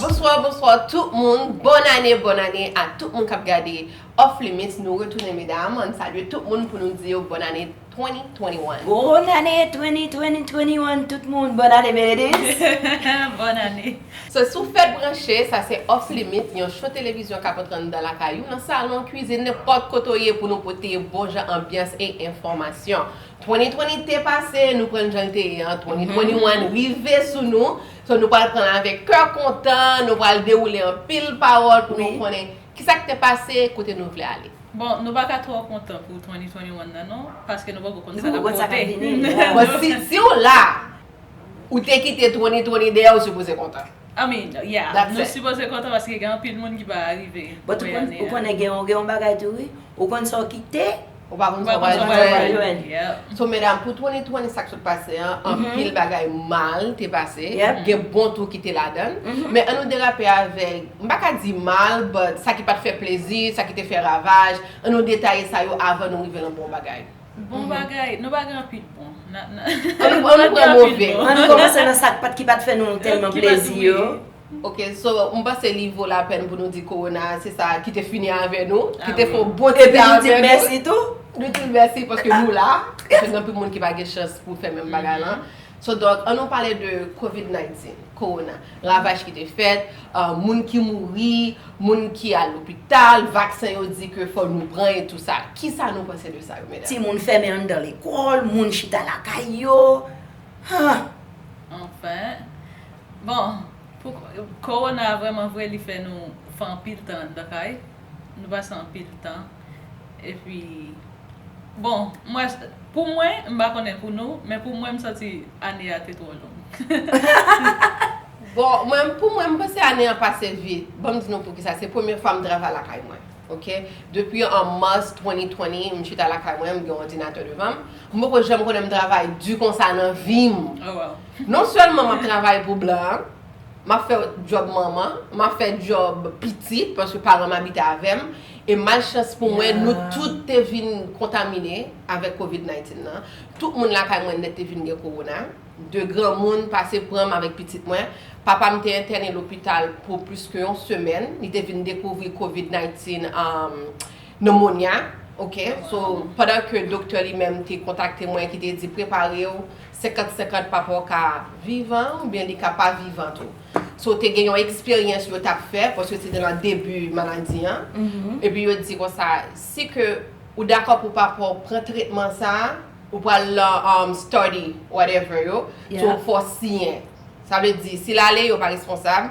Bonswa bonswa tout moun Bòn ane bòn ane a tout moun kap gade Off limits nou retounen medam ann salye tout moun pou nou di yo bòn ane 2021. Bòn ane 2020 21 tout moun bòn ane Meredith. Bòn ane. Se sou Fed Branche, sa se Off Limit, yon show televizyon kap antre anndan lakay ou, nan salon, kwizin, nenpòt kote w ye pou nou pote bon jan anbyans e enfòmasyon. 2020 te pase, nou pran l jan l te ye an, 2021 rive sou nou, so nou pral pran l avèk kè kontan, nou pral dewoule anpil pawòl pou nou konnen kisa k te pase, kote nou vle ale. Bon, nou pa ka twò kontan pou 2021 nan non, paske nou poko konn sa kap pote. Bon, si w la! Ou te kite troni troni dèyè ou sipoze kontan. I mean yeah That's nou it. sipoze kontan paske gen anpil moun ki pa arive But ou konn ou konnen gen yon gen yon bagay tou wi Ou konn sa w kite Ou pa konn sa w pral jwenn Ou pa konn sa w pral jwenn Yep So medam pou troni troni sa k sot pase an anpil bagay mal te pase Yep gen bon tou ki te ladann Men an nou derape avèk m pa ka di mal but sa ki pat fè plezi sa ki te fè ravaj an nou detaye sa yo avan nou rive nan bon bagay. Bon bagay, nou pa gen anpi t bon. An nou pran move. An nou komanse nan sa ki pat fè nou tèlman plezi yo. Ok so m panse li vo lapèn pou nou di kowona a se sa ki te fini avè nou, ki te fè yon bon ti tan avè nou. Epi nou di l mèsi tou. Nou di l mèsi paske nou la. Gen anpil moun ki pa gen chans pou fè menm bagay lan. So dòk an nou pale de covid 19, kowona, ravaj ki te fèt, moun ki mouri, moun ki al lopital, vaksen yo di ke fò nou pran e tou sa. Kisa nou panse de sa yo medam? Timoun fèmen anndan lekòl, moun chita lakay yo, huh! Anfen, bon, pou kowona vrèman vre li fè nou fè anpil tan anndan kay, nou pase anpil tan. Epi bon m wè pou mwen m pa konnen pou nou men pou mwen m santi ane a te twò long. Bon mwen pou mwen m panse ane an pase vit ban m di nou poukisa se premye fwa m travay lakay mwen ok depi an mars 2020 m chita lakay mwen m gen yon òdinatè devan m m poko janm konnen m travay di konsa nan vi m non sèlman m ap travay pou blan. M ap fè djòb manman, m ap fè djòb pitit, paske paran m abite avè m, e malchans pou mwen, nou tout te vin kontamine avèk covid 19 nan. Tout moun lakay mwen nèt te vin gen kowona. De granmoun pase pran m avèk pitit mwen. Papa m te entène lopital pou plis ke yon semèn. Li te vin dekouvri covid 19, nemonya, ok. So, pandan ke doktè li menm te kontakte mwen ki te di prepare w, 50 50 papa w ka vivan ou byen li ka pa vivan tou so te gen yon eksperyans yo tap fè paske se te nan debi maladi an epi yo di konsa si ke ou dakò pou papa w pran tretman sa ou pral lan study whatever yo so fò w siyen sa vle di si l ale yo pa responsab.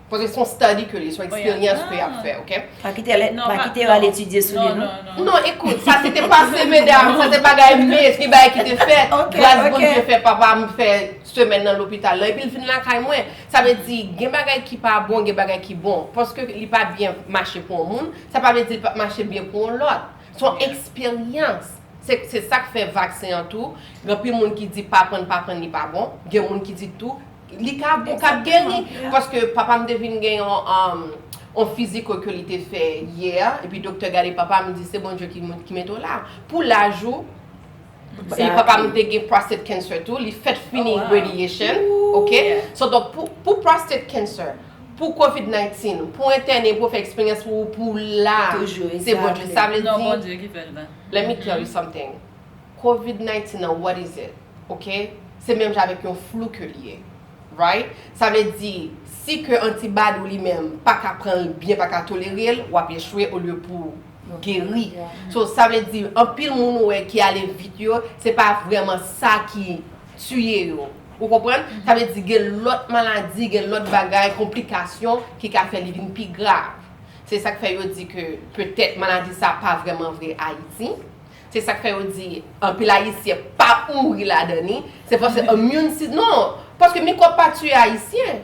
Paske son study ke li, son eksperyans ke yap fè ok. Pa kite l non pa kite yo al etidye sou li non. Non ekout sa se te pase medam sa se bagay me se gen bagay ki te fèt gras Bondye fè papa m fè semèn nan lopital lan epi l vin lakay mwen sa vle di gen bagay ki pa bon gen bagay ki bon paske li pa byen mache pou yon moun sa pa vle di li pap mache byen pou yon lòt son eksperyans se sak fè vaksen an tou gen anpil moun ki di pa pran pa pran li pa bon gen moun ki di tou Li ka ou ka geri paske papa m te vin gen yon on fiziko ke li te fè yè epi doktè gade papa m li di se Bondye ki mete w la pou laj ou e papa m te gen prostate cancer tou li fèt fini radiation ok so donk pou prostate cancer pou covid 19 pou w entène pou w fè eksperyans pou w la se Bondye sa vle di let me tell you something Covid 19 an what is it ok se menm jan avèk yon flou ke li ye right sa vle di si ke antibad ou li menm paka pran l byen paka tolere l wap echwe olye pouw geri so sa vle di anpil moun ou wè ki ale vit yo se pa vrèman sa ki tiye yo ou konprann sa vle di gen lòt maladi gen lòt bagay konplikasyon ki ka fè li vin pi grav se sak fè yo di ke petèt maladi sa pa vrèman vre ayiti. Se sak fè yo di anpil ayisyen pa mouri ladan li, se paske immune si non, paske mikwòb pa tiye ayisyen.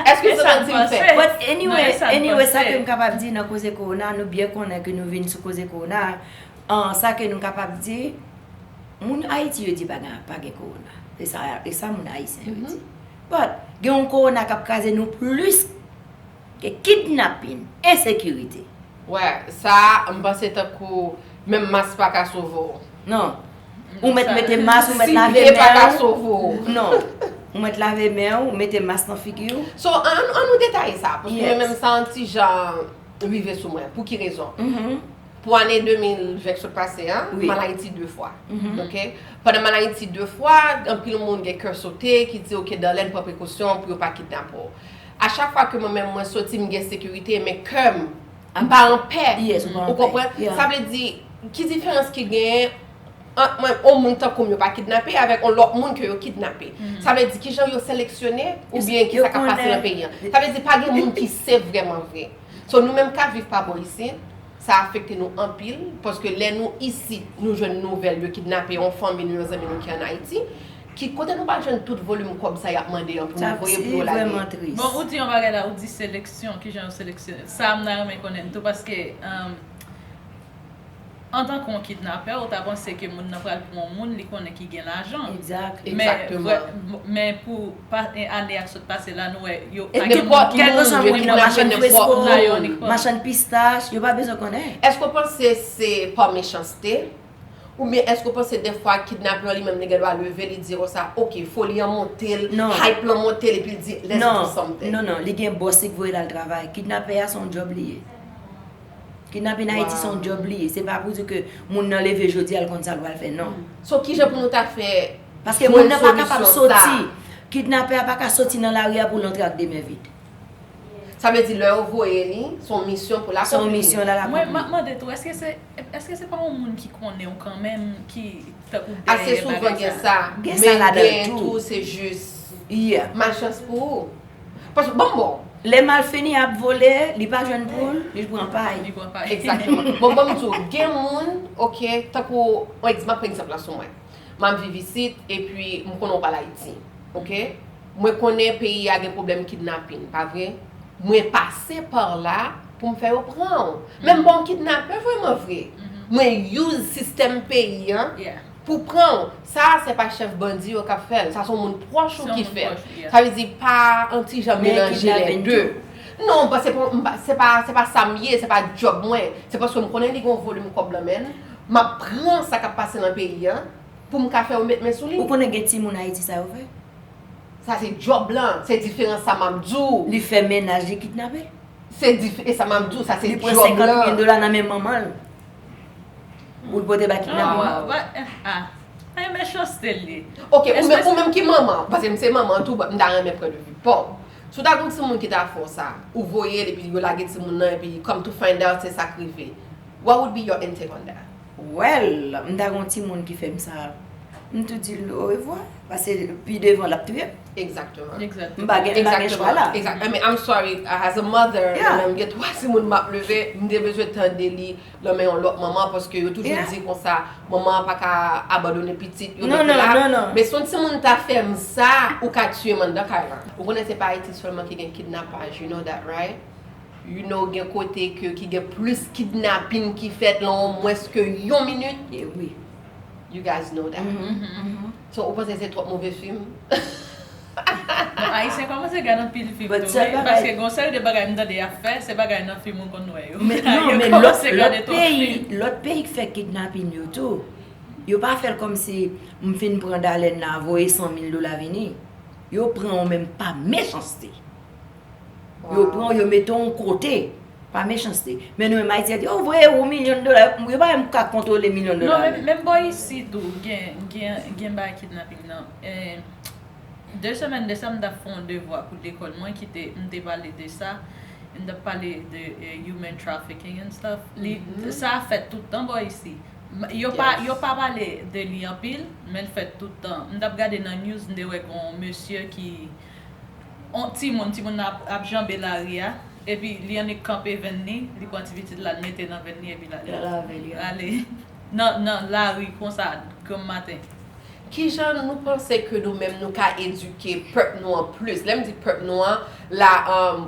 Eske sa nan dim fè? But anyway, anyway sa kem kapab di nan koze kowona, nou byen konnen ke nou vin sou koze kowona a, sa ke nou kapab di, moun ayiti yo di pa gen pa gen kowona, se sa, e sa moun ayisyen yo di. But gen yon kowona kap kraze nou plis. Gen kidnapin, ensekirite. Wè, sa a, m panse tankou menm mas pa ka sove w. Non. Ou mèt mete mas, ou mèt lave men w. Siveye pa ka sove w. Non. Ou mèt lave men w, ou mete mas nan figi w. So, an nou detaye sa. Yes. Paske mwen menm sa yon ti jan rive sou mwen. Pou ki rezon? Pou ane 2020 k sot pase an, m al Ayiti 2 fwa. Ok? Pandan m al Ayiti 2 fwa, anpil moun gen kè sote ki di ok Darlène pran prekosyon pou yo pa kidnape w. A chak fwa ke mwen menm mwen soti m gen sekirite men kè m m pa an pè ou konprann sa vle di ki diferans ki genyen ant mwen on moun tankou m yo pa kidnape avèk on lòt moun ke yo kidnape sa vle di kijan yo seleksyone oubyen ki sa k ap pase nan peyi an sa vle di pa gen moun ki save vrèman vre so nou menm k ap viv pa bò isit sa afekte nou anpil paske lè nou isit nou jwenn nouvèl yo kidnape on fanmi nou yon zanmi nou ki an Ayiti. Ki kote nou pral jwenn tout volume kob sa yap mande an pou nou voye pou yo lage. Bon ou di yon bagay la ou di seleksyon kijan yo seleksyonel sa mta renmen konnen tou paske antanke yon kidnapè ou ta panse ke moun nan pral pran yon moun li konnen ki gen lajan men pou ane yap sot pase la nou wè yo pa gen moun ki gen lajan yo kidnape machann presko machann pistach yo pa bezwen konnen. Eske ou panse se pa mechanste? Ou byen eske ou panse defwa kidnape lan li menm li gen dwa leve li di konsa ok foli an monte l, hype lan monte l epi l di let's do something. Non, non, non, li gen boss li k voye l al travay. Kidnape a se yon job li ye. Kidnape nan Ayiti se yon job li ye. Se pa pou di ke moun nan leve jodi a l konn sa l pral fè, non. So kijan pou nou ta fè jwenn solisyon sa? Paske moun nan pa kapab soti, kidnape a pa ka soti nan lari a pou l antre ak de men vid. Sa vle di lè yo voye li se yon misyon pou l akonpli. Se yon misyon l al akonpli. Mwen map mande tou eske se eske se pa yon moun ki konnen w kanmenm ki tankou dèyè bagay sa. Ase souvan gen sa. Gen sa ladan l tou. Men gen tou se jis. Yeah. Malchans pou ou. Paske bon bon. Lè malfini ap vole li pa jwenn pou l li pran pay. Li pran pay. Exactement. Bon banm di w gen moun ok tankou map pran egzanp la sou mwen. Map viv isit epi m konnen w pa al Ayiti ok. Mwen konnen peyi a gen pwoblèm kidnapin, pa vre? Mwen pase par la pou m fè yo pran w. Men m pa yon kidnapè vrèman vre. Mwen use sistèm peyi an pou pran w. Sa a se pa chèf bandi yo k ap fè l. Sa se yon moun pwòch ou ki fè l. Sa vle di pa yon ti jan melanje lè de. Non, se pa sa m ye, se pa djòb mwen. Se paske m konnen li gen yon volim kòb nan men l. M ap pran sa k ap pase nan peyi an pou m ka fè yo met men sou li. Ou konnen gen timoun Ayiti sa yo fè? Sa se job lan, se diferan sa map di w. Li fè mennaj li kidnape? Se dif e sa map di w sa se job lan. Li pran 50 mil dola nan men manman l pou l pote bay kidnape manman l. Waw ah e mechanste l ye. Ok ou menm ki manman an, paske m se manman an tou m ta renmen pran de vi paw. Si w ta gen yon timoun ki ta fè w sa, ou voye l epi yo lage timoun nan epi come to find out se sak rive. What would be your intake on that? Well, m ta gen yon timoun ki fè m sa, m tou di l orevwa, pase pi devan l ap touye m. Exactement. M pa gen chwa la. Exactement. I mean, I'm sorry, as a mother, lè mwen m gen 3 timoun m ap leve, m te bezwen tande li nan men yon lòt manman paske yo toujou di konsa, manman an pa ka abandone pitit yo mete la. Non, non, non. Men si yon timoun m ta fè m sa, ou ka tiye m anndan kay lan. Ou konnen se pa Ayiti sèlman ki gen kidnapaj, you know that, right? You know gen kote ke ki gen plis kidnapin ki fèt lan yon mwens ke yon minit. E wi. You guys know that. So ou panse se twòp move fim? Bon ayisyen kòmanse gad anpil fim tou wi paske gen yon seri de bagay m tande yap fè se bagay nan fim mwen konn wè yo. Men non men lòt peyi lòt peyi k fè kidnapin yo tou yo pa fèl kòmsi m fin pran Dalèn la voye 100 mil dola vini. Yo pran w men pa mechanste. Yo pran w, yo mete w yon kote. Pa mechanste. Men nou menm Ayiti, yo voye ou milyon dola, yo pa menm ka kontwole milyon dola yo. Non, menm bò isi tou, gen bagay kidnaping nan. De semèn de sa, m t ap fè yon devwa pou lekòl mwen ki te, m te pale de sa. M t ap pale de human trafficking and stuff. Sa a fèt tout tan bò isi. Yo pa pale de li anpil, men l fèt tout tan. M t ap gade nan news, m te wè gen yon mesye ki. On timoun, timoun nan ap janbe lari a, epi li annik kanpe venn ni, li pran ti pitit la, li mete nan venn ni epi lal avè li ale nan lari konsa granm maten. Ki jan nou panse ke nou menm nou ka edike pèp nou an plis? Lè m di pèp nou an, la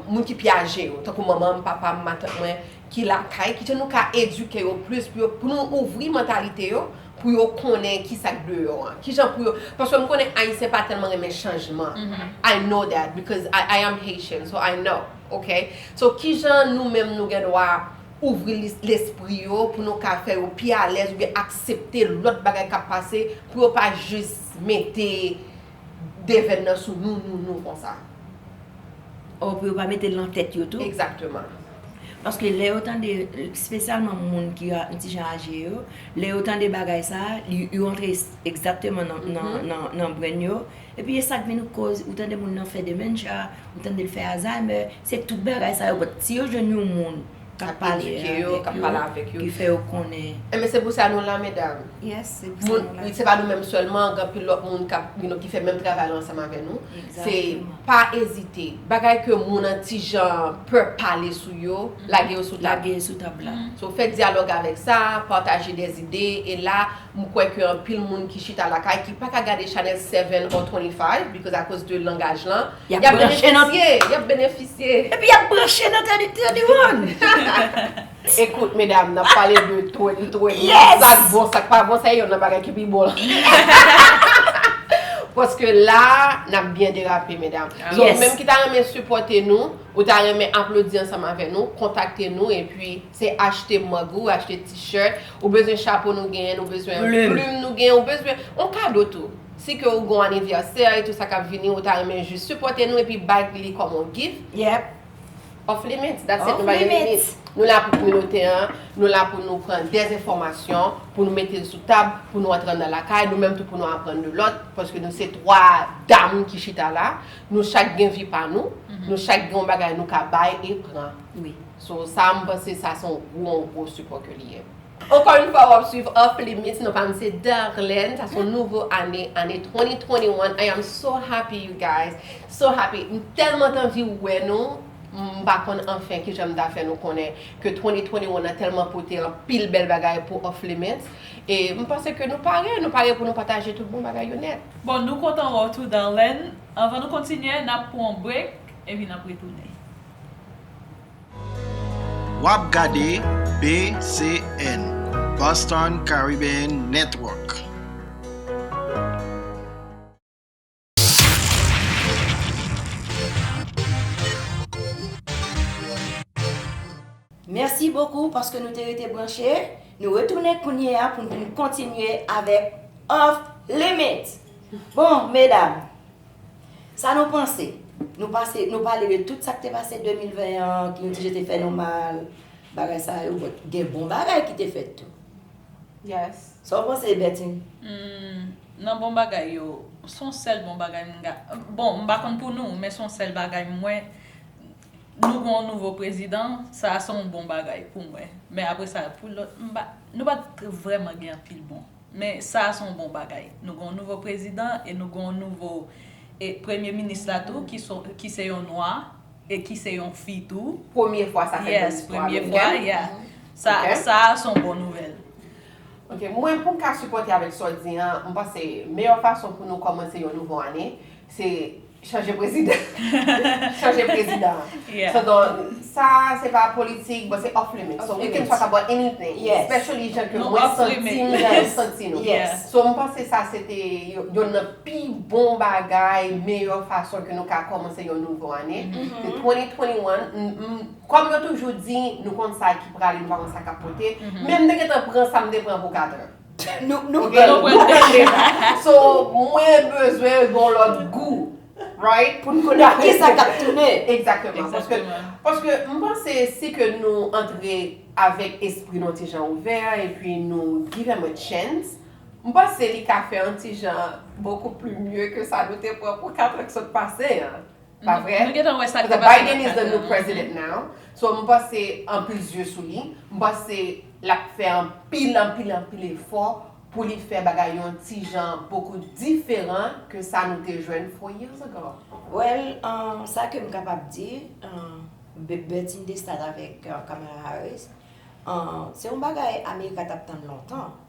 moun ki pi aje yo, tankou manman m, papa m, matant mwen ki lakay, ki jan nou ka edike yo plis pou yo, pou nou ouvri mantalite yo? pou yo konnen kisa k deyò an kijan pou yo paske m konnen ayisyen pa tèlman renmen chanjman i know that because i am Haitian so i know ok so kijan nou menm nou gen dwa ouvri lespri yo pou nou ka fè yo pi alèz oubyen aksepte lòt bagay kap pase pou yo pa jis mete. devèn nan sou nou nou nou konsa. Oh pou yo pa metel nan tèt yo tou. Exactement. Paske lè yo tande spesyalman moun ki yon ti jan aje yo, lè yo tande bagay sa, yo antre exactement nan brenn yo, epi e sak vin koz ou tande moun nan fè dementia, ou tandel fè alzheimer, se tout bagay sa yo, but si yo jwenn yon moun. Kap pale avèk yo. Ki fè yo konnen. Enben se pou sa nou la medam. Yes se pou sa nou la. Se pa nou menm sèlman gen anpil lòt moun kap you know ki fè menm travay lan ansanm avè nou. Se pa ezite. Bagay ke moun an ti jan pè pale sou yo lage yo sou tab. Lage yo sou tab la. So fè dyalòg avèk sa, pataje dè zide e la m kwè ke anpil moun ki chita lakay ki paka gade chanèl 7 or 25 because akoz de langaj lan. Yap branche nan. Yap benefisye. Epi yap branche nan Teddy One. Ekout medam nap pale de twenty twenty yes sak bon sak pa bon sa e yonn nan bagay ki pi bon paske la nap byen derape medam so ou menm ki ta renmen sipòte nou ou ta renmen aplodi ansanm avè nou kontakte nou epi se achte mug ou achte t-shirt ou bezwen chapo nou genyen nou bezwen plume nou genyen ou bezwen yon kado tou. Si ke ou gon aniversè e tou sa kap vini ou ta renmen jis sipòte nou epi bay li kòm on gift. Yep. Off limits, that's it, nou pa gen limit. Nou la pou kominote an, nou la pou nou pran des enfòmasyon, pou nou mete l sou tab, pou nou antre anndan lakay, nou menm tou pou nou aprann de lòt, paske nou se 3 dam ki chita la, nou chak gen vi pa nou, nou chak gen yon bagay nou ka bay e pran. Wi. So sa m panse sa se yon gwo, yon gwo sipò ke li ye. Ankò yn fwa wap swiv off limits non pa m se Darlene sa son nouvo ane ane 2021 I am so happy you guys so happy m tèlman t anvi wè nou m pa konn anfen kijan m ta fè nou konnen ke 2021 an tèlman pote anpil bèl bagay pou off limits e m panse ke nou pare nou pare pou nou pataje tout bon bagay yo nèt. Bon nou kontan wè w tou Darlene anvan nou kontinye nap pran yon break epi nap retounen. Wap gade BCN, Boston Caribbean Network. Mèsi bokou paske nou te rete branche, nou retounen kounye a pou n vin kontinye avèk Off Limits! Bon medam, Sa nou panse? Nou pase, nou pale de tout sa k te pase 2020 an, ki yon ti jan te fè nou mal, bagay sa yo, but gen bon bagay ki te fèt tou. Yes. Sa w panse, Bertine? Nan bon bagay yo, son sèl bon bagay m ka, bon, m pa konn pou nou, men son sèl bagay m wè, nou gen yon nouvo prezidan, sa a son bon bagay pou mwen. Men apre sa, pou lòt, m pa, nou pa t vrèman gen anpil bon. Men sa a se yon bon bagay. Nou gen yon nouvo prezidan e nou gen yon nouvo e premye minis la tou ki se ki se yon nwa e ki se yon fi tou. Premye fwa sa fèt nan Yes, listwa premye fwa, amerikèn. yeah. Sa Ok. sa a se yon bon nouvèl. Ok, mwen pou m ka sipòte avèk sa w di an, m panse meyè fason pou nou kòmanse yon nouvo ane se Chanje prezidan. Chanje prezidan. Yeah. So don, sa se pa politik, but se off limits. So we can talk about anything. Yes. Especially jan ke Nou mwen off santi limits. m, jan nou santi nou. Yes. So m panse sa se te yonn nan pi bon bagay, meyè fason ke nou ka kòmanse yon nouvo ane. Se 2021, m, m, kòm yo toujou di, nou konn sa ki prale, nou pa konn sa k ap pote. Men m te gentan pran sa m te pran pou 4 heures. Nou gen nou pwèl pèche la. So mwen bezwen yon lòt gou. Right? Pou n konnen ki sa k ap tounen. Ekzakteman. Paske m panse si ke nou antre avèk espri nou ti jan ouvè e pi nou give em a chance, m panse li ka fè yon ti jan bokou pli mye ke sa nou te pran pou 4 an k sot pase an. Pa vre? Nou gentan wè sa k te pase nan Katar. Biden is the new president now. So m panse anpil zye sou li. M panse l ap fè anpil, anpil, anpil efò pou li fè bagay yon ti jan bokou diferan ke sa nou te jwenn four years ago. Well, sa ke m kapab di, Bertine Destas avèk Kamala Harris, se yon bagay America t ap tann lontan.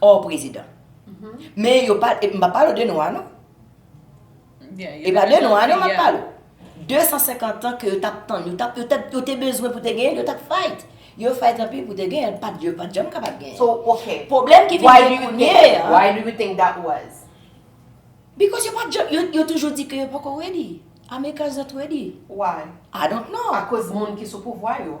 Or prezidan. Men yo pa, epi m pa pale de nwa non. E pa de nwa non m ap pale. 250 an ke yo tap tann, yo tap, yo te bezwen pou te genyen, yo tap fight. Yo fight anpil pou te genyen, pat yo pat janm kapab genyen. So, ok. Pwoblèm ki vin gen kounye a. Why do you think that was? Because yo pat janm, yo toujou di ke yo poko ready. Americans not ready. Why? I don't know. Akoz moun ki sou pouvwa yo.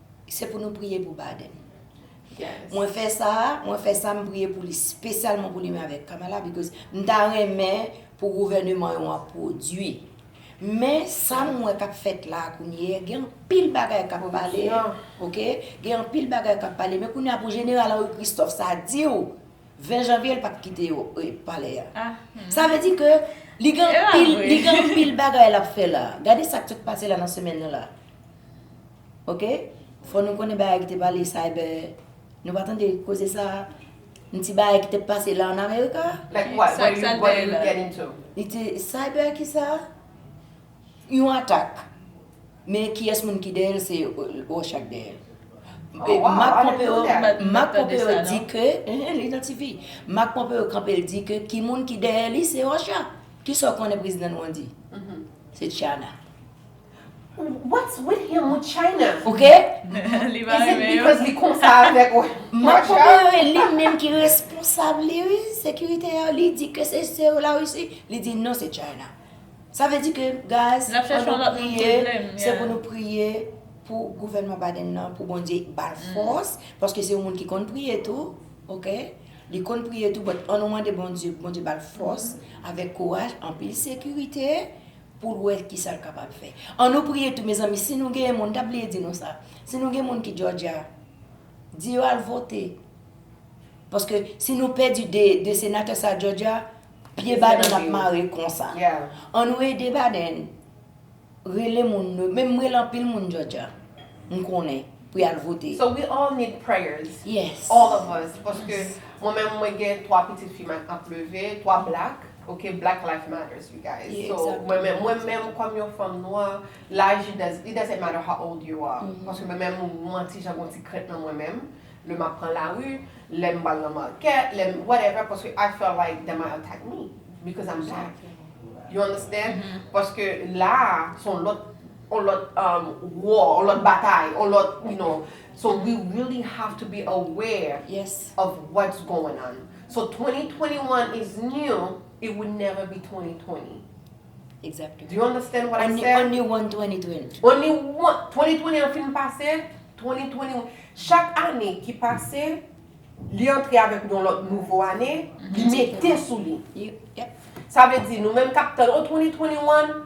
Se pou nou priye pou Biden. Yes. Mwen fè sa, mwen fè sa, m priye pou li spesyalman pou li menm avèk Kamala because m ta renmen pou gouvèneman yo an pwodui. Men sa m wè k ap fèt la a kounye a, gen anpil bagay k ap pale, ok, gen anpil bagay k ap pale men kounye a pou Jeneral Henri Christophe sa di w 20 janvye l pa t kite yo palè a. Sa vle di ke li gen anpil, li gen anpil bagay l ap fè la a. Gade sa k sot pase la nan semèn nan la a. Ok fò nou konnen bagay ki te pale cyber nou pa tande koze sa yon ti bagay ki te pase la an America. Like what? Sa ki sa l bay la? Li te cyber ki sa? Yon atak. Men kiyès moun ki dèyè l se Russia ki dèyè l. Oh wow, Mark I didn't know Pompeo that. Mark Mwen pa tande Pompeo sa, di non. ke ehe li nan TV. Mark Pompeo kanpe l di ke ki moun ki dèyè li se Russia. Kisa w konnen prezidan nou an di? Se China. What's with him with China? Ok. Li pa renmen yo. Is it because li konsa avèk ou? Mwen kwè se li menm ki responsab li wi. Sekirite yo li di ke se se yo la Russie, li di non se China. Sa vle di ke guys, an nou priye, se pou nou priye pou gouvènman Biden nan, pou Bondye ba l fòs, paske se yon moun ki konn priye tou, ok? Li konn priye tou, but an nou mande Bondye pou Bondye ba l fòs avèk kouraj, anpil sekirite, pou l wè kisa l kapab fè. An nou priye tou mezanmi si nou genyen moun, m ta bliye di nou sa, si nou gen moun ki Georgia, di yo al vote. Paske si nou pèdi 2 senatè sa Georgia, pye Biden ap mare konsa. An nou ede Biden, rele moun nou, menm m rele anpil moun Georgia, m konnen, pou y al vote. So we all need prayers, all of us, paske mwen menm mwen gen 3 pitit fi m ap leve, 3 black. Ok black life matters you guys Yeah, so exactement, mwen menm mwen menm kòm yon fanm nwa laj it does it doesn't matter how old you are Mhm. paske mwen menm moun nwa ti jan gon ti krent nan mwen menm lè map pran lari lèm bal nan market lèm whatever paske I feel like they might attack me because I'm black Exactement. you understand Mhm. paske la a son lòt on lòt um war on lòt batay on lòt you know so we really have to be aware Yes. of what's going on. So 2021 is new, it would never be 2020. Exactly. Do you understand what I said? Only one 2020. Only one. 2020 an fin pase, 2021. Chak ane ki pase, li antre avèk yon lòt nouvo ane, li mete sou li. Sa vle di nou menm kap tan, oh 2021,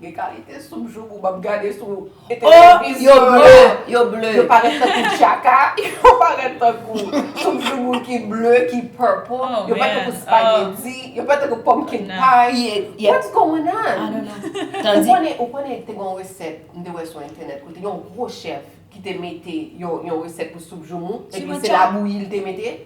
Gen kalite soup joumou map gade sou televizyon la. Oh! Yo ble. Yo parèt tankou tchaka. Yo parèt tankou soup joumou ki ble, ki purple. Oh man! Yo parèt tankou spaghetti. Yo parèt tankou pumpkin pie. Yep. What's going on? I don't know. Tande. Ou konnen, ou konnen te gen yon resèt m te wè sou entènèt kote yon gwo chèf ki te mete yon yon resèt pou soup joumou Soup epi se labouyi li te mete?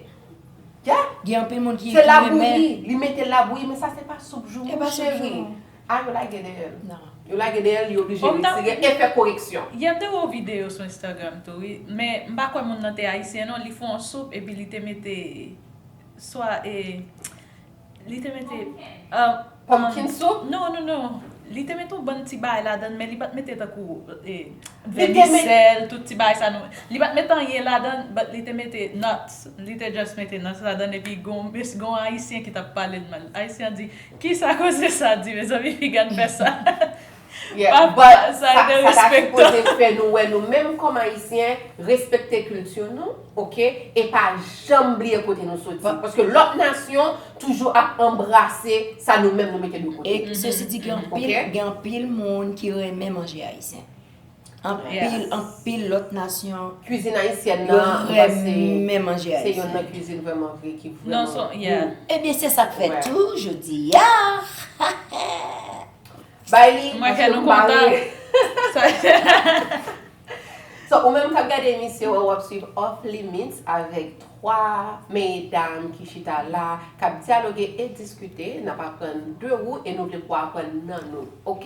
Yeah! Gen anpil moun ki renmen. Se labouyi. Li mete labouyi men sa se pa soup joumou cheri. E pa soup joumou. Ah yo lage dèyè l. Nan. Yo lage dèyè l li oblije Bon, m ta retire e fè koreksyon. Yè m te wè yon videyo sou Instagram tou wi, men m pa kwè moun nan te ayisyen non, li fè yon soup epi li te mete swa e li te mete um Pumpkin soup? Non non non li te mete yon bann ti bagay ladan l men li pa t mete tankou e Li te met vèmisèl tout ti bagay sa nou li pa t mete anyen ladan l but li te mete nuts li te just mete nuts ladan l epi gon mis gon ayisyen ki t ap pale l mal ayisyen an di Kisa koze sa di mezanmi fi gad fè sa papa sa derespektan. Sa ta sipoze fè nou wè nou menm kòm ayisyen respekte kilti nou ok e pa janm bliye kote nou soti paske lòt nasyon toujou ap anbrase sa nou menm nou mete de kote. E sesi di gen anpil gen anpil moun ki renmen manje ayisyen. Anpil anpil lòt nasyon Kwizin ayisyèn nan yo renmen manje ayisyèn. Se yonn nan kwizin vrèman vre ki vrèman gou. Ebyen se sak fè tou jodi a Bay li paske nou pare So ou menm kap gade emisyon an wap swiv Off Limits avèk 3 meye dam ki chita la kap dyaloge e diskite nap aprann de ou e nou vle pou aprann nan nou ok.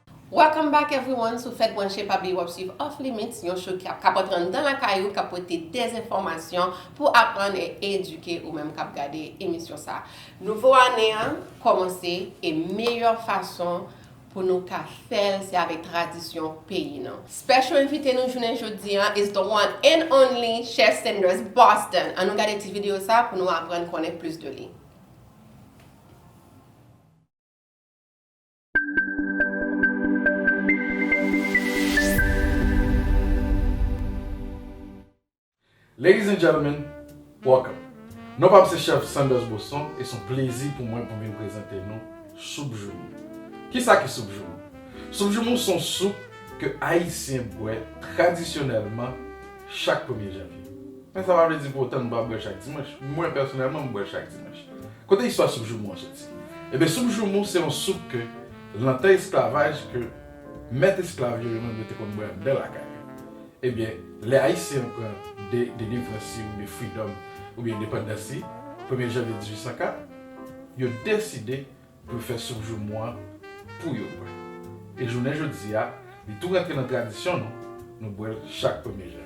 Welcome back everyone sou fèt branche pa bliye wap swiv off limits yon show ki ap kapòt ran nan lakay ou kap pote dezenfòmasyon pou aprann e edike ou menm kap gade emisyon sa nouvo ane an kòmanse e meyè fason pou nou ka fèl se avèk tradisyon peyi nou. Special envite nou jounen jodi an is the one and only chef Sanders Boston an nou gade ti video sa pou nou aprann konnen plis de li. Ladies and gentlemen, welcome! Non pa m se chèf Sanders Bosson e s on plezi pou mwen pou m vin prezante nou Soup Joumou. Kisa ki Soup Joumou? Soup Joumou s on soup ke Ayisyen bwè tradisyonèlman chak premye janvye. Men sa pa vle di pou otan nou pa bwè l chak dimanch. Mwen pèsonèlman m bwè l chak dimanch. Kote istwa soup joumou an soti? Ebyen soup joumou se yon soup ke lan tan esklavaj ke mèt esklav yo yo menm yo te konn bwè anndan lakay yo. Ebyen lè Ayisyen yo pran de delivrans yo ou de fridòm ou byen endepandans li premye janvye 1804 yo deside pou yo fè soup joumou an pou yo bwè. E jounen jodi a li tou rantre lan tradisyon nou, nou bwè l chak premye janvye.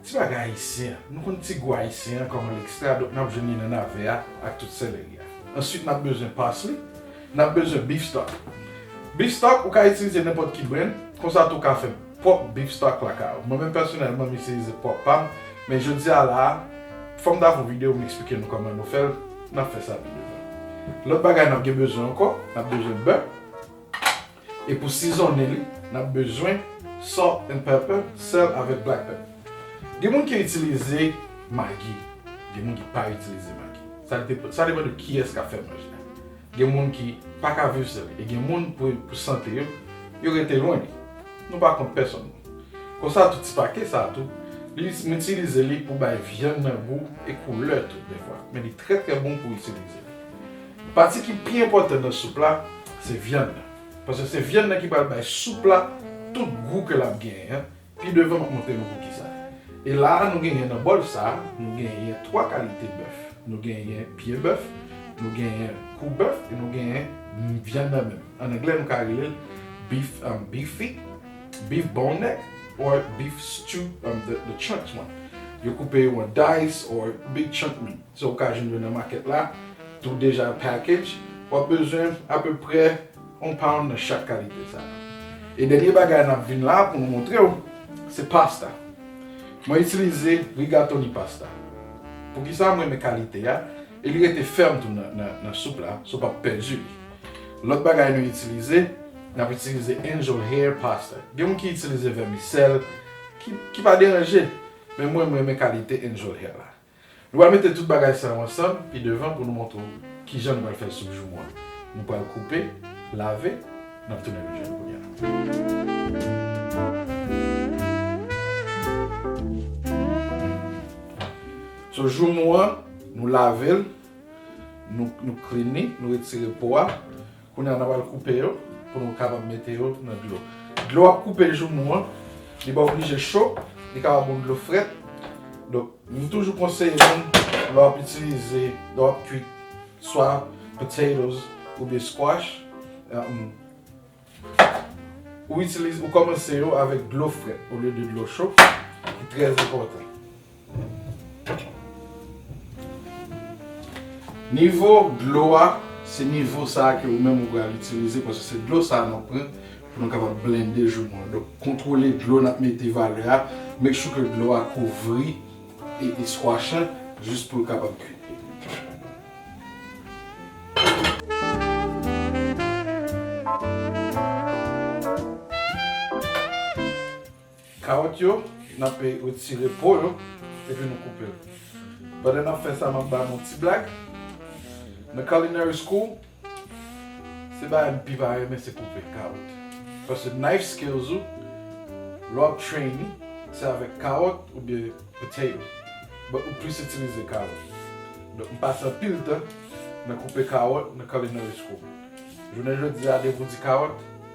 Ti bagay ayisyen an, nou konn ti gou ayisyen an kòman l ekstra donk n ap jwenn li nan nave a ak tout seleri a. Answit n ap bezwen parsley, n ap bezwen beef stock. Beef stock ou ka itilize nenpòt ki brenn, konsa tou w ka fè pwòp beef stock lakay ou. Mwen menm pèsonèlman m itilize pwòp pa m, men jodi a la a fò m ta fè yon videyo m eksplike nou kòman nou fè l, n ap fè sa pi devan. Lòt bagay n ap gen bezwen ankò, n ap bezwen bè. E pou sizonnen li, nap bezwen salt and pepper, sèl avèk black pepper. Gen moun ki itilize magi, gen moun ki pa itilize magi. Sa depan de kiyès kap fè manje a. Gen moun ki paka viv san li e gen moun pou sante yo, yo rete lwen li. Nou pa kont pèsòn non. Konsa tou ti pake sa tou, m itilize li pou bay vyann nan gou e koulè tou dèfwa. Men li trè trè bon pou itilize li. Pati ki pi enpòtan nan soup la se vyann nan. Paske se vyann nan ki pral bay soup la tout gou ke lap genyen an. Pi devan map montre nou poukisa. E la a nou genyen nan bòl sa a, nou genyen 3 kalite bèf. Nou genyen pye bèf, nou genyen kou bèf e nou genyen vyann nan menm. An anglè nou ka rele l beef beef feet, beef bone neck or beef stew the chunks one. Yo koupe yo an dice or big chunk meat. Sa ou ka jwenn yo nan makèt la tou deja package. W ap bezwen apeprè yon pound nan chak kalite sa yo. E dènye bagay n ap vin la pou nou montre w se pasta. Mwen itilize rigatoni pasta. Poukisa m renmen kalite a? E li rete fèm tou nan soup la, so w pap pèdi li. Lòt bagay nou itilize, n ap itilize angel hair pasta. Gen moun ki itilize vèmisèl ki pa deranje, men mwen m renmen kalite angel hair la. Nou pral mete tout bagay sa yo ansanm pi devan pou nou montre w kijan nou pral fè soup joumou a. Nou pral koupe, lave, n ap tounen rejwenn kounye a. So joumou an, nou lave l, nou klin li, nou retire po a, Kounye a n ap al koupe yo pou nou kapab mete yo nan dlo. Dlo w ap koupe joumou an, li pa oblije cho, li kapab yon dlo frèt. Donk, m toujou konseye moun lè w ap itilize, lè w ap kwit swa potatoes oubyen squash, ou itilize, ou kòmanse yo avèk dlo frèt olye de dlo cho, li trè enpòtan. Nivo dlo a, se nivo sa ke ou menm ou pral itilize paske se dlo sa nou pran pou nou kapab blende joumou an. Donk kontwole dlo nap mete valè a, make sure ke dlo a kouvri e squash lan jis poul kapab kuit. Kawòt yo, n'ape retire po yo epi nou koupe'l. Pandan n'ap fè sa m'ap ba nou ti blag. Nan culinary school, se bagay m'pi pa renmen se koupe kawòt. Paske knife skills ou, lè w'ap train li, se avèk kawòt oubyen potato. But ou plis itilize kawòt. Donk m'pase anpil tan nan koupe kawòt nan culinary school. Jounen jodi a depi ou di kawòt.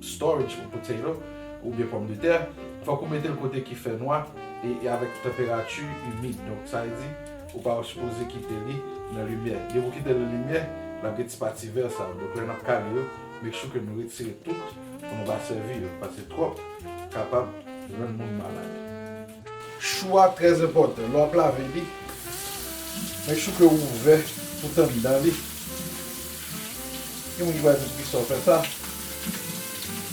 storage ou potato ou byen pòm de tè fòk ou metel kote ki fè nwa e avèk tanperati imid donk sa vle di ou pa sipoze kite li nan limyè depi ou kitel nan limyè lap gen ti pati vè sa yo donk lè nap kale yo make sure ke nou retire tout pou nou pa sèvi yo paske twòp kapab rann moun malad. Chou a trè enpòtan lè w ap lave li make sure ke ou ouvè pou t anndan li gen moun ki pral di poukisa w fè sa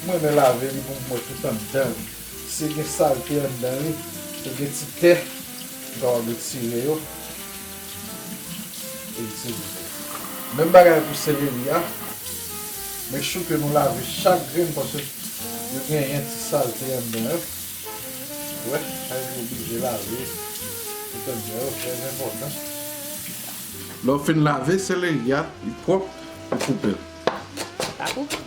m renmen lave li pou m wè tout anndan li si gen salte anndan li e gen ti tè m kapab retire yo e itilize menm bagay pou seleri a make sure ke nou lave chak grenn paske yo genyen ti salte anndan yo. Wè, sa vle di w oblije lave piton djè yo, trèzenpòtan. Lè w fin lave seleri a, li pwòp, ou koupe l. Pa koupe.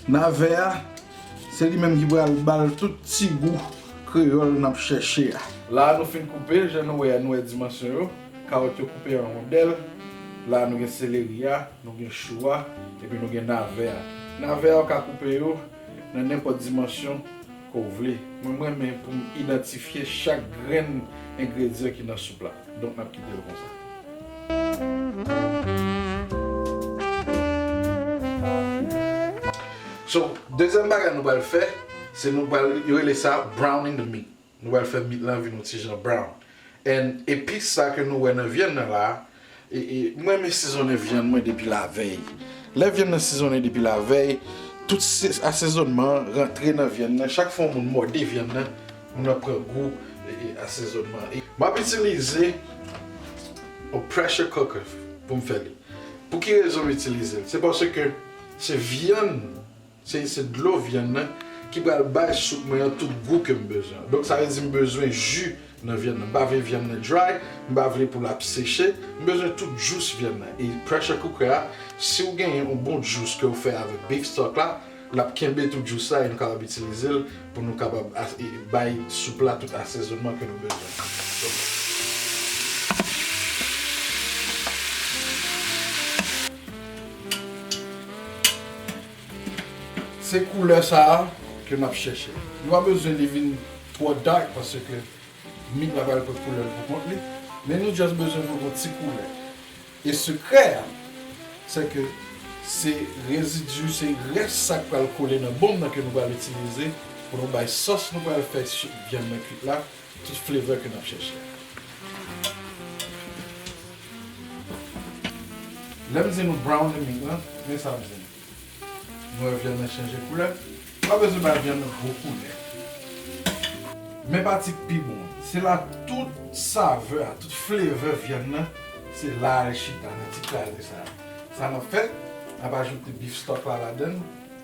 Nave a, se li menm ki pral ba l tout ti gou kreyòl n ap chèche a. La nou fin koupe l, jan nou wè a, nou wè dimansyon yo. Kawòt yo koupe an rondèl. La nou gen seleri a, nou gen chou a, epi nou gen nave a. Nave a ou ka koupe yo. nan nenpòt dimansyon ke w vle. Mwen m renmen pou m idantifye chak grenn engredyan ki nan soup la. Donk n ap kite l konsa. So, dezyèm bagay nou pral fè, se nou pral, yo rele sa browning the meat. Nou pral fè mit lan vin yon ti jan brown. And epis sa ke nou wè nan vyann nan la, m renmen sizonnen vyann mwen depi lavèy. Lè vyann nan sizonnen depi lavèy, tout asezonman an rantre nan vyann nan. Chak fwa yon moun mòde vyann nan, moun nan pran gou asezonman an. M ap itilize yon pressure cooker pou m fè li. Pou ki rezon m itilize l? Se paske se vyann. Se se dlo vyann nan ki pral bay soup mwen an tout gou kem bezwen an. Donk sa vle di m bezwen ju nan vyann nan. M pa vle vyann nan dry, m pa vle pou l ap seche. M bezwen tout jous vyann nan. E pressure cooker a, si w genyen yon bon jous ke w fè avèk beef stock la, l ap kenbe tout jous la e nou kapab itilize l pou nou kapab bay soup la tout asezonman ke nou bezwen an. Se koulè sa a ke nap chèche. Nou pa bezwen li vin twò dark paske mit la pral pran koulè l pou kont li, men nou just bezwen voye yon ti koulè. E sekrè a, se ke se rezidu, se rès sa k pral kole nan bonm nan ke nou pral itilize pou nou bay sòs nou pral fè sou vyann nan kuit la. Se tout flavor ke nap chèche a. Lèm di nou brown li mit lan, men sa m di nou. Nou wè vyann nan chanje koulè? Ou pa bezwen bay vyann nan gwo koulè. Men pati k pi bon an. Se la tout saveur a, tout flavor vyann nan, se la al chita nan ti kraze sa a. Sa nap fè? Nap ajoute beef stock la ladann.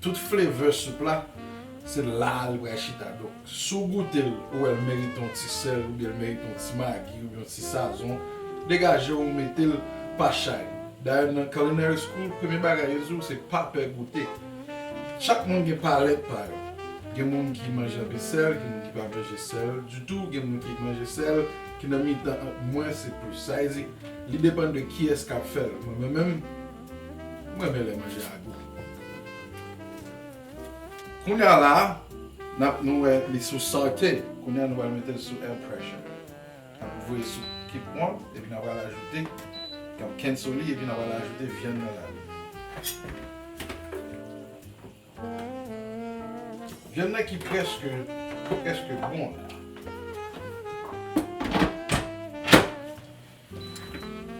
Tout flavor soup la se la li pral chita donk si w goute l ou wè l merite yon ti sèl oubyen l merite yon ti magi oubyen yon ti sazon degaje w mete l pa chay dayè nan culinary school premye bagay yo di w se pa pè goute chak moun gen palèt pa yo gen moun ki manje anpil sèl gen moun ki pa manje sèl ditou gen moun ki manje sèl ki nan mitan ant mwens e plis sa vle di li depann de kiyès kap fè l mwen menm M renmen lè manje a gou. Kounya la nap nou wè li sou saute kounya nou pral metel sou air pressure nap voye sou keep on epi na pral ajoute nap kenso li epi na pral ajoute vyann nan ladan. Vyann nan ki preske ki preske bon la.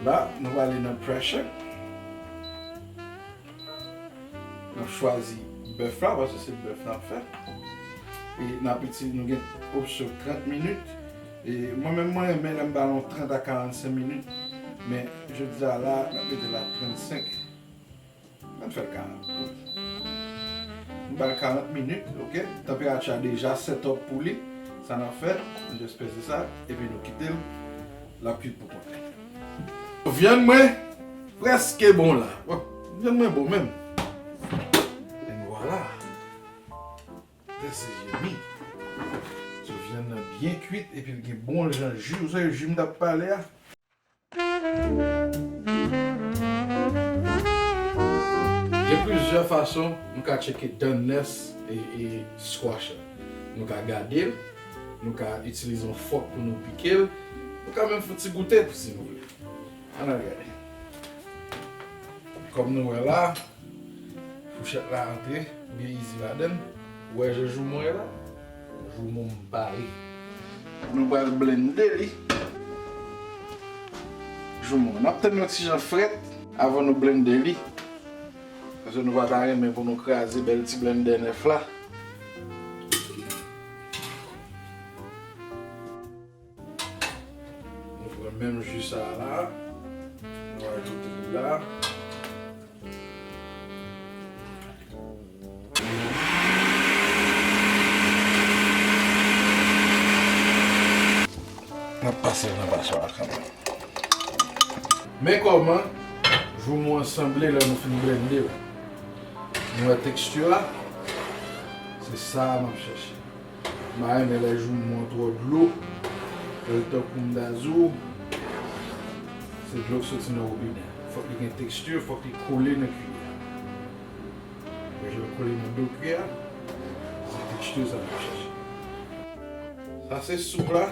La nou ale nan pressure. Nap chwazi bèf la paske se bèf nap fè. E nap itilize nou gen opsyon 30 minit. E mwen menm mwen renmen lèm ba nou 30 a 45 minit. Men jodi a la nap mete la 35. An fèl 40 minutes. Nou bal 40 minutes ok. Tanperati a deja set up pou li. Sa nap fè, nou just pèse sa epi nou kitel lap kwit pou kont li. Vyann mwen preske bon la. Vyann mwen bon menm. En vwala. This is yummy. So vyann nan byen kwit epil gen bon jan ju. Ou sa e ju mtap pale a? Gen plizyè fason nou ka tcheke dan nès e squash la. Nou ka gade l, nou ka itilize yon fòk pou nou pike l, nou ka menm fouti goute pou si nou vle. An n al gade. Kòm nou wè la, fouchèt la antre byen izi ladan l. Ou wè je joumou an e la? Joumou m pare. Nou pral blende li. Joumou an ap tann yon ti jan frèt. Avan nou blende li. Paske nou pa ta renmen pou nou kraze bèl ti blende nèf la. Nou pran menm ju sa a la, nou ajoute li la. Nap pase l nan paswa a kanmèm. Men kòman joumou an sanble lè nou fin blende l. Nou wè teksti a? Se sa a map chèche. Mayi men lè joumou an twò dlo lèl tankou mdazo se dlo k soti nan wobinè fòk li gen texture fòk li kole nan kiyè a jel kole nan do kiyè a se texture sa nap chèche sa se soup la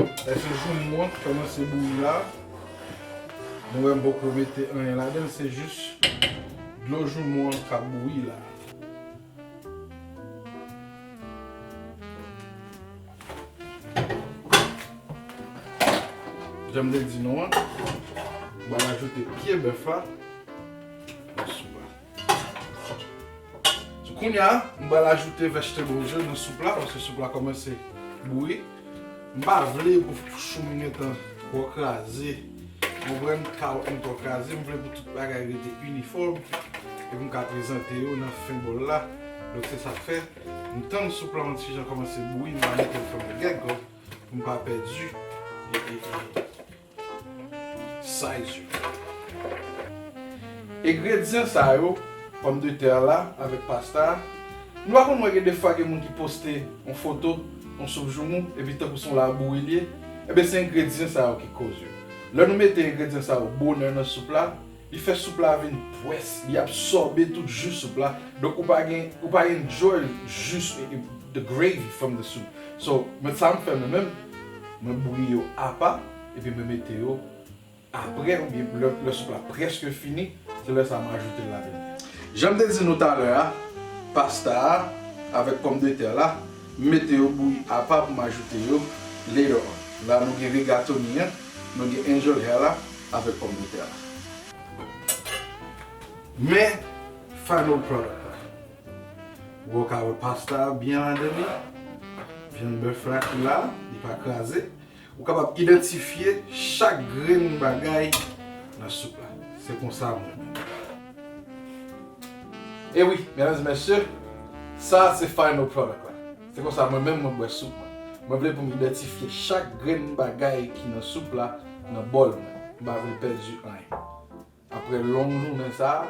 lè se joumou an ki kòmanse bouyi la nou wèm poko mete anyen ladanl se jis dlo joumou an kap bouyi la. Janm te di nou an, mwen ajoute pye bèf la nan soup la. Kounya, mwen ajoute vegetable yo nan soup la paske soup la kòmanse bouyi. M pa vle pou chou m gen tan twò kraze. Ou konprann? Kawòt mwen twò kraze. M vle pou tout bagay rete inifòm epi m ka prezante yo nan fen bòl la. Donk se sa k fè m tann soup lan yon ti jan kòmanse bouyi m pa mete l fèmen gègòt pou m pa pèdi. size yo. Egredyan sa yo, pòm de tè la avèk pasta a, nou pa konn wè gen defwa gen moun ki poste yon foto yon soup joumou epi tankou se yon labouri li ye, enben se engredyan sa yo ki koz yo. Lè nou mete engredyan sa yo bonè nan soup la, Li fè soup la vin pwès. Li absòbe tout ju soup la. Donk ou pa gen, ou pa enjoy jus, the gravy from the soup. So, mwen sa m fè mwen menm, mwen bouyi yo apa, epi mwen mete yo aprè oubyen lè lè soup la prèske fini, se lè sa m ajoute l ladann. Jan m te di nou talè a, pasta a avèk pòmdetè la. M mete yo bouyi apa pou m ajoute yo later on. La nou gen rigatoni an, nou gen angel hair la avèk pòm de tè la. Men final product la. Ou wè w ka wè pasta a byen ladan li. Vyann bèf la ki la, li pa kraze. Ou kapab idantifye chak grenn bagay nan soup la. Se konsa mwen menm. E wi, medam e mesye, sa a se final product la. Se konsa mwen menm mwen bwè soup mwen. Mwen vle pou m idantifye chak grenn bagay ki nan soup la nan bòl mwen. M pa vle pèdi anyen. Aprè long jounen sa a,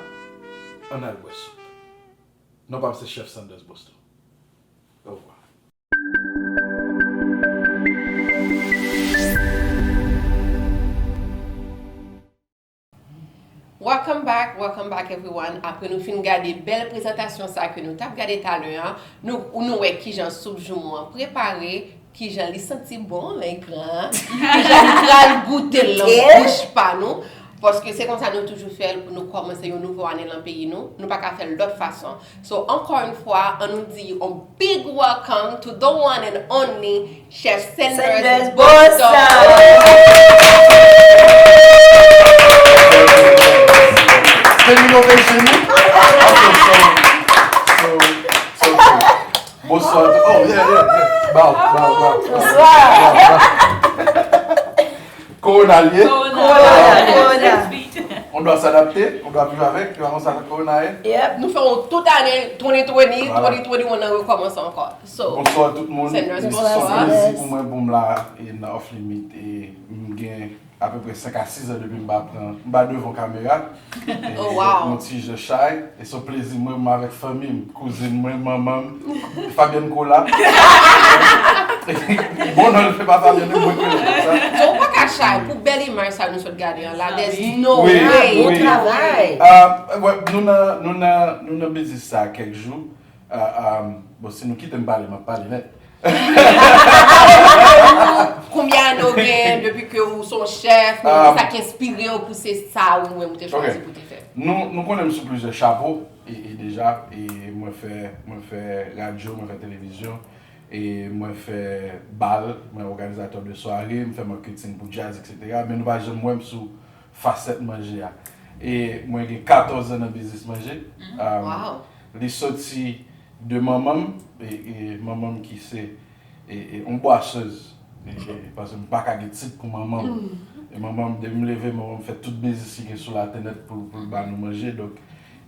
ann al bwè soup. Non pa m se chèf Sanders Boston. Orevwa. Welcome back welcome back everyone apre nou fin gade bèl prezantasyon sa ke nou tap gade talè an nou wè kijan soup joumou an prepare kijan li santi bon lè gran kijan nou pral goute l nan bouch pa nou paske se konsa nou toujou fèl pou nou kòmanse yon nouvo ane nan peyi nou nou paka fèl lòt fason. So ankò yn fwa an nou di on big welcome to the one and only chef Senders Bossard. Korona l ye. Korona. On dwa s'adapte, on dwa viv avèk, se pa konsa korona ye. Yep, nou fè yon tout ane 2020, 2021 nan rekòmanse ankò. So. Bonswa tout moun. Sèn Rose bonswa. Son plezi pou mwen pou m la nan Off Limit e m gen apeprè 5 a 6 an depi m pa pran, m pa devan kamera. Yon ti je chay e son plezi mwen mwen avèk fanmi m, kouzin mwen, manman m, Fabienne Colas. Bon non l se pa Fabienne men mwen ki rele l konsa. Non ou paka chay pou bèl imaj sa nou sot gade an la there's no way. Bon travay. Nou nan biznis sa kèk jou. Bon si nou kitem pale map pale net. Konbyen ane ou gen depi ke ou son chef, sa ki enspire ou pou se sa ou menm ou te chwazi pou te fè? Nou konnen m sou plizyè chapo e deja mwen fè mwen fè radyo, mwen fè televizyon e mwen fè bal, mwen òganizatè de sware, m fè makketing pou djaz etc. Men nou pa janm wè m sou Fasèt manje a. E mwen gen 14 zan nan biznis manje. Li soti de manman m, e manman m ki se yon bwasez, paske m pa ka gen tit pou manman m. E manman m, depi m leve, manman m fè tout biznis ki gen sou latè nèt pou l ba nou manje. Donk,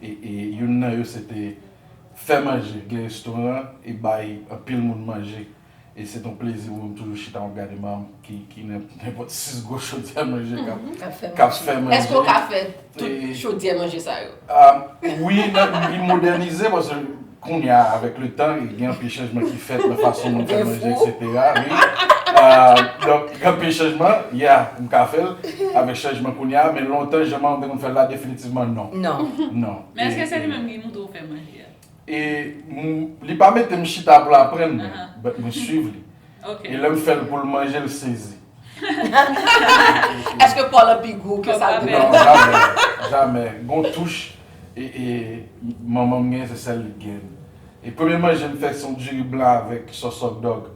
e youn nan yo se te fè manje, gen restoran e bay anpil moun manje. E se t on plezi pou m toujou chita map gade manm ki nan nenpòt 6 gwo chodyè manje kap fè manje. Èske w ka fè tout chodyè manje sa yo? Wi, li modènize paske kounya avèk le tan gen anpil chanjman ki fèt nan fason moun fè manje eksetera. Donk gen anpil chanjman, ya, m ka fè l avèk chanjman kounya men lontan jan manman m te konn fè l la definitivman non. Men èske se li menm ki montre w fè manje a? E li pa mete m chita pou l aprann mwen, but mwen swiv li. E lè m fè l pou l manje l sezi. Eske paw lan pi gou ke sa l te panse? Non, jamè, jamè. Gon touch manman m gen se sèl li t gen. E premye manje m fè se yon diri blan avèk sòs hotdog.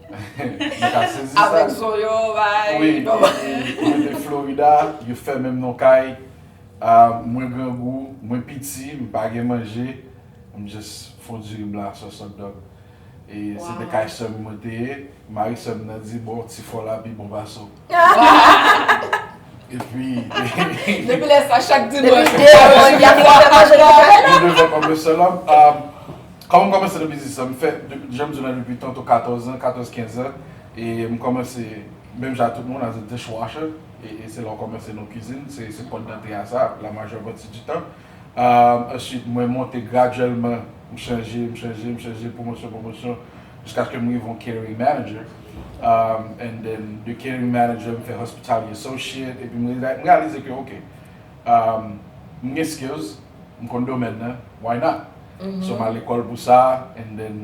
Nou ka sezi sa. Avèk zo yo, bay. Wi, e nou te Florida, yo fèmen m nan yon kay. Ah mwen grangou mwen piti m pa gen manje m just fon diri blan sòs hotdog e se te kay sèm mwen te ye mari sèm nan di bon ti fò la pi bon pase w epi depi lè sa chak dimanch mwen fè manje li pou mwen mwen devan kòmè sè la kòman m kòmanse nan biznis la m fè janm di w la depi tantou 14 an 14 15 an e m kòmanse menm jan ak tout moun as a dish washer. E se la w kòmanse nan kizin, se kòd dantè a sa, la majè pati di tan. Ansuit, mwen monte gradyèlman, m chanje, m chanje, m chanje, pwomosyon, pwomosyon, jiskaske m rive yon catering manager. And then, de catering manager, m fè hospitality associate, epi m reyalize ke ok, m gen skills, m konn domèn nan, why not? So m al lekòl pou sa, and then.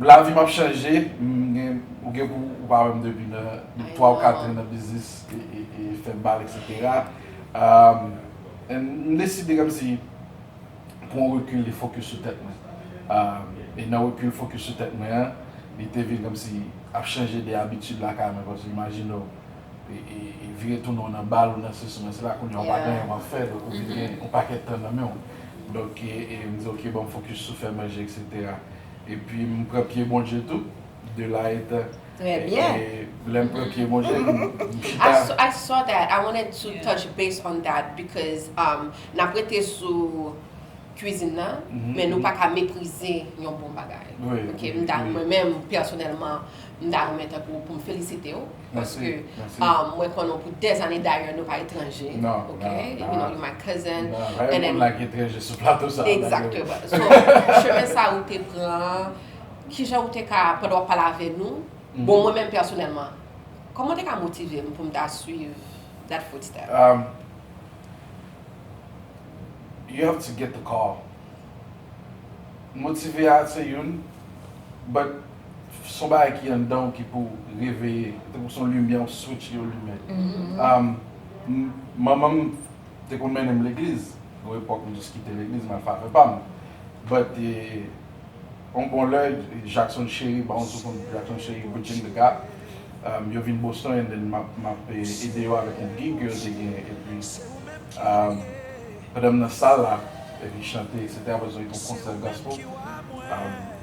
Lavi m ap chanje, ou gen pou ou pa wèm depi nan 3 ou 4 an nan biznis e fè bal eksetera and m deside kòmsi pran rekil e fokis sou tèt mwen e nan rekil fokis sou tèt mwen an li te vin kòmsi ap chanje de abitid lakay mwen paske imajine w vire tounen w nan bal ou nan sesi w nan sela kounye a ou pa gen anyen w ap fè donk ou vin gen yon pakèt tan nan men w donk m di ok bon m fokis sou fè manje eksetera. epi m pran pye Bondye tou de la etè Très bien. e lèm pran pye Bondye m m chita I I saw that I wanted to touch base on that because um nap rete sou cuisine nan men nou paka meprize yon bon bagay ok m ta mwen menm pèsonèlman m ta renmen tankou poum felisitew paske mwen konnen w pou dè zane dayè nou pa etranje ok you know you my cousin rayè moun la ki etranje sou plato sa exactement so chemen sa ou te pran kijan ou te ka pandan wap pale avè nou bon mwen menm personèlman koman ou te ka motive m pou m ta swiv that foot step you have to get the call motive a se youn but son bagay ki anndan w ki pou reveye tankou son limyè yon switch yo limen manman m te konn mennen m legliz yon epòk m jis kite legliz m al fè afè pa m but yon bon lè Jackson Chéry ba yon ti kout Jackson Chéry Bridging the Gap yo vin Boston and then m ap ede yo avèk yon gig ke yo te gen epi pandan m nan sal la epi chante etc aprè sa yo te gen yon konsè gospel.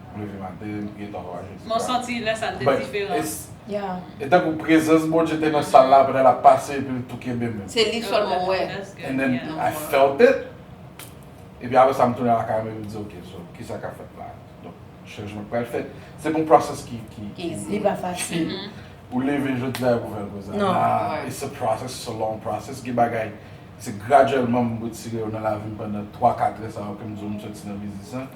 M leve maten, m priye 3 fwa jodi sa. Men w santi lè sa l te diferan. E tankou prezans Bondye te nan sal la aprè l ap pase epi l tou kenbe menm. Se li sèlman m wè. And then I felt it. Epi aprè sa m tounen lakay mwen epi m di ok so kisa k ap fèt la. Donk chanjman k pral fèt. Se yon process ki. Li pa fasil. Ou leve jodi a epi w fè l konsa. Non. It's a process, it's a long process. Gen bagay. Se gradyèlman m retire yo nan lavi m pandan twa katrè sa yo ke m di w m soti nan biznis lan.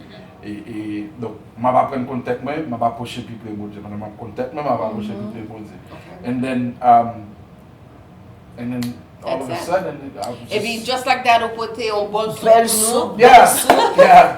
E, donk, m ap aprann konn tèt mwen, m ap apwoche pi pre Bondye. Pandan m ap konn tèt mwen, m ap apwoche pi pre Bondye. And then, and then all of a sudden, I was just. Epi just like that ou pote yon bòl soup pou nou. Bèl soup, bèl soup. Yeah, yeah.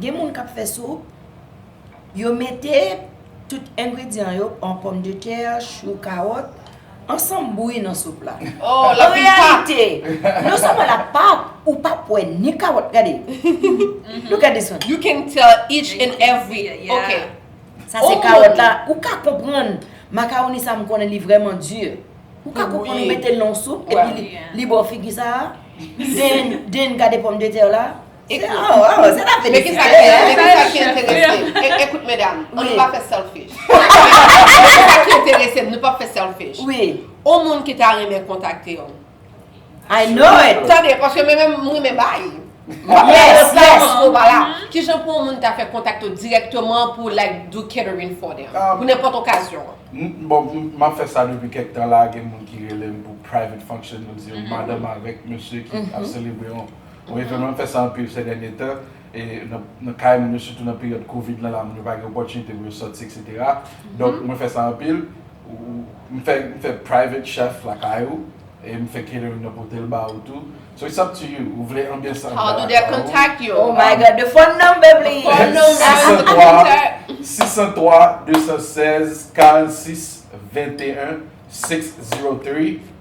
Gen moun kap fè soup, yo mete tout engredyan yo, an pòm de tè, chou, kawòt, ansanm bouyi nan soup la. Oh, la pil pap. An reyalite, non sèlman la pap, ou pap wè ni kawòt, gade. Look at this one. You can tell each and every, ok. Sa se kawòt la, ou ka konprann macaroni sa m konnen li vrèman dur. Ou ka konprann ou mete l nan yon soup epi li ba w figi sa a. Then, then gade pòm de tè w la. Ekri. Oh, oh, oh, se ta Men ki sa ki, men ki sa ki enterese m. E, ekout medam, an nou pa fè selfish. Men ki sa ki enterese m, nou pap fè selfish. Wi. On moun ki ta renmen kontakte w. I know it! Tande, paske men menm, m renmen bay. Yes, yes. Ou pa la. Ki jan pou on moun ta fè kontakte w dirèkteman pou like do catering for them? Pou nenpòt okazyon. M, bon, m, m ap fè sa depi kèk tan la, gen moun ki rele m pou private function, yo di yo madanm avèk mesye ki ap selebre on. Wi frèm yo fè sa anpil sè dènye tan e nan kay moun yo sitou nan peryòd covid lan la moun yo pa gen opòtinite pou yo sòti etc donk mwen fè sa anpil m fè private chef lakay ou e m fè catering nan potel ba ou tou so it's up to you ou vle anbyans an anba lakay ou oh my god the phone number please 603 603 216 46 21 603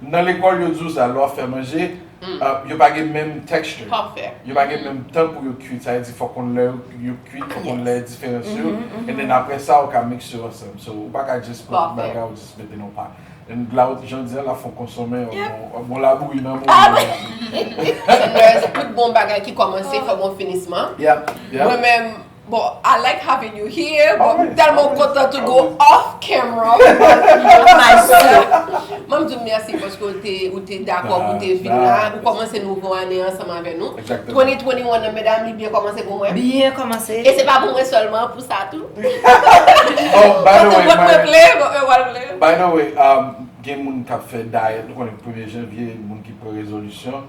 Nan lekòl yo di w sa, lè w ap fè manje, yo pa gen menm texture, yo pa gen menm tan pou yo kuit, sa vle di fòk konn lè yo kuit, fòk konn lè diferans yo, and then aprè sa ou ka mixe yo ansanm, so ou pa ka just pran tout bagay ou just mete nan yon pat, and la ou jan w di an la fon konsonmen yon bon labouyi nan mouda w tou. Ti nurse, tout bon bagay ki kòmanse fò gen yon finisman, mwen menm Bon I like having you here bon m telman kontan to go off camera with my soeur Mwen di w mèsi paske ou te dakò pou te vin la ou kòmanse nouvo ane ansanm avè nou 2021 nan medam li byen kòmanse pou mwen Byen kòmanse E se pa pou mwen sèlman pou sa tou Oh by the way Kote mwen vle bon e wal vle By the way Gen moun kap fè diet ou konnen premye janvye moun ki pran rezolisyon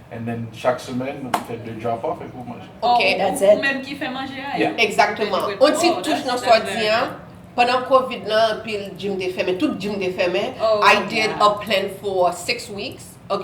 And then chak semèn nou te fè 2 drop off epi ou manje. Ok, that's it. Ou menm ki fè manje a? Yeah. Exactement. On ti touch nan sa w di an, pandan covid lan anpil gym te fèmen, tout gym te fèmen, I did a plan for 6 weeks, a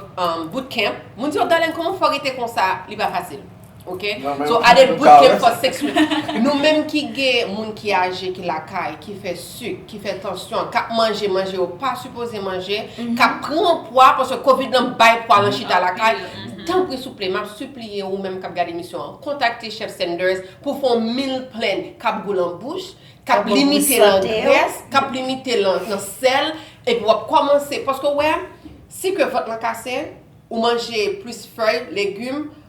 boot camp. Moun di yo, Darlene kòman w fè w rete konsa? Li pa fasil. Ok, so a de bout gen fòs sekswèl. Nou menm ki gen moun ki aje ki lakay, ki fè suk, ki fè tansyon, kap manje manje yo pa sipoze manje, kap pran pwa paske covid lan bay pwa lan chita lakay, tanpri souple map sipliye ou menm kap gad emisyon an kontakte chèf Sanders pou fè yon meal plan kap gou lan bouch, kap limite lan grès, kap limite lan sèl, epi wap kòmanse paske ou wè si ke vant lan kase, ou manje plis fèy, legum,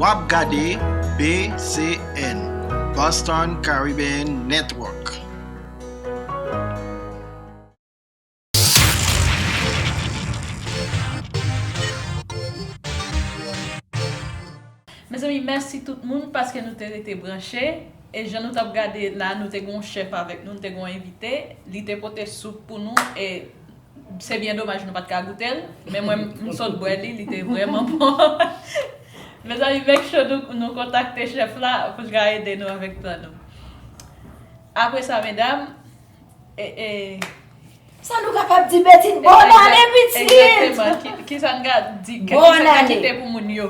Wap gade BCN, Boston Caribbean Network. Mezanmi mèsi tout moun paske nou te rete branche e jan nou tap gade la nou te gon chèf avèk nou nou te gon envite li te pote soup pou nou e Se byen domaj nou pat ka goutel men mwen m sot bwè li li te vrèman bon mezanmi make sure nou nou kontakte chèf la pou l ka ede nou avèk plan nou apre sa medam e. Sa nou kapab di Betty bon ane pitit! Egzakteman kisa n ka di kisa n ka kite pou moun yo.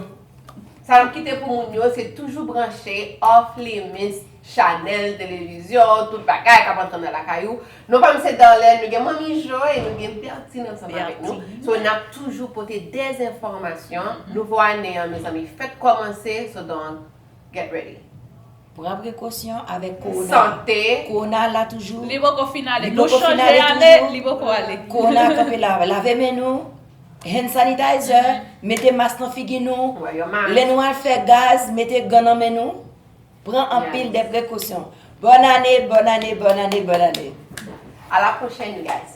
Sa map kite pou moun yo se toujou branche Off Limits Chanel televizyon tout bagay kap antre nan lakay ou non pam se Darlene nou gen Manmi Jo e nou gen Bertine ansanm avèk nou so nap toujou pote des enfòmasyon nouvo ane an mezanmi fèt kòmanse so donk get ready. Pran prekosyon avèk kowona. Sante. Kowona a la toujou. Li poko fin ale. Nou chanje ale, li poko ale. Kowona a kanpe la. Lave men nou. Hand sanitizer. Mete mas nan figi nou. Lè nou al fè gaz, mete gan nan men nou. Pran anpil de prekosyon. Bòn ane, bòn ane, bòn ane, bòn ane. A la pwochèn guys.